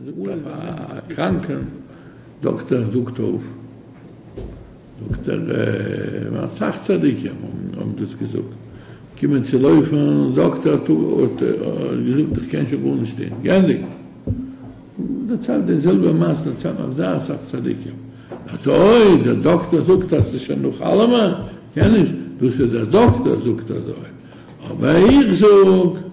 זאגט א קראנקע דאקטער זאגט אויף דאקטער אסאך צדיקים האבן דאס געזאגט קומען צו לויפן זאגט ער האט געזאגט איך קען שוין גארנישט טון גענדיגט דערציילט די זעלבע מעשה צוזאמען אויף זייער אסאך צדיקים אז אויב דער דאקטער זאגט אז עס איז שוין נאך אלעמען קען נישט דאס איז דער דאקטער זאגט אזוי אבער איך זאג.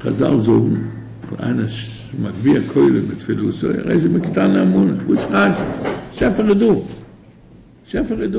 חזל זאגן אז איינער איז מגביה כלים בתפילתו, ער איז איבער קטני אמונה, וואס חשש? שפע איז דא! שפע איז דא!